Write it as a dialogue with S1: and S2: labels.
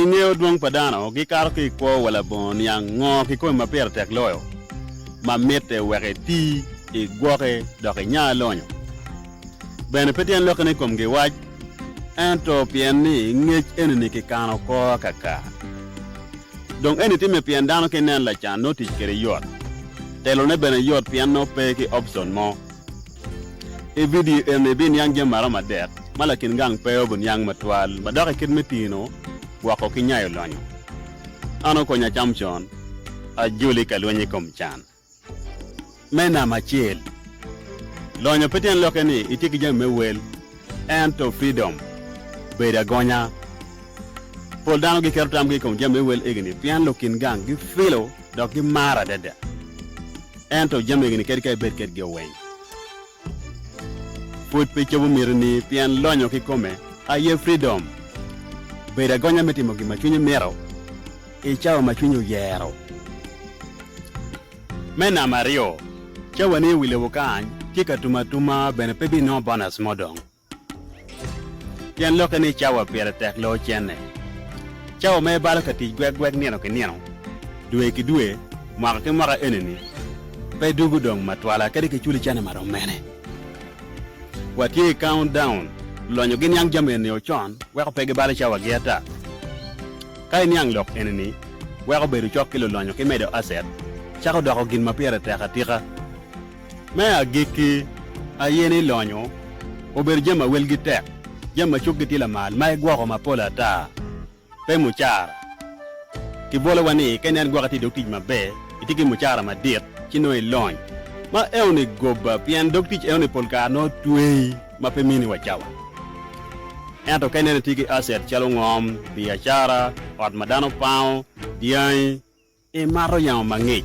S1: I nge odwong pa dano, gikato ki i kwo wa labongo niang ngo kikomi ma pire tek loyo, ma mitte wek iti, igwoki, dok inya lonyo. Bene pe tyen lokke ni ikomgi wac, ento pien ni ngec enini kikano oko akaka. Dong eni timme pien dano ki nen lacan nongo tic kede yot. Telone bene yot pien nongo pe ki opcion mo. I vidio eni, ibiniang jami maromo adek ma lakin gang pe aye obiniang matwal ma dok i kit me tino woko ki nyayo lonyo. An okonya acam con. Ajoli ka lweny i kom can me namba acel. Lonyo pe tyen lokke ni itye ki jami me wel, ento freedom, bedo agonya. Pol dano giketo tamgi i kom jami me wel egini pien lukin gang gifilo dok gimaro adada. Ento jami egini kadi ka ibed kedgi oweng pud pe cobo mitini pien lonyo kikome aye freedom. Bedo agonya me timo gin ma cwinyi mito i cawa ma cwinyi oyero. Me namba aryo, cawani i wi lobo kany ki ka tum atuma bene pe binongo bonus mo dong. Pien lokke ni cawa pire tek lo ocenne, cawa ma ibalo ka tic gwegweg nino ki nino, dwe ki dwe, mwaka ki mwaka enini pe dugo dong ma twala kadi ki culi cene ma rom mene. Watye i count down, lonyo gi niang jami enini o con weko pe gibalo cawa gi ata. Ka iniang lok enini weko bedo cok ki lulonyo ki medo asset cako doko gin ma pire tek atika. Me agikki, aye ni lonyo obedo jami ma welgi tek, jami ma cukgi tye lamal, ma igwoko mapol ata, pe mucara. Kibolowa ni ka ineno gwok itye i dog tic maber, itye ki mucara madit, ci nongo ilony. Ma enoni gobba pien dog tic enoni pol kare nongo tweyi ma pe mini wa cawa. Ento ka ineno itye ki aset calo ngom, biacara, ot ma dano pango, dyangi, imato yamo mangic.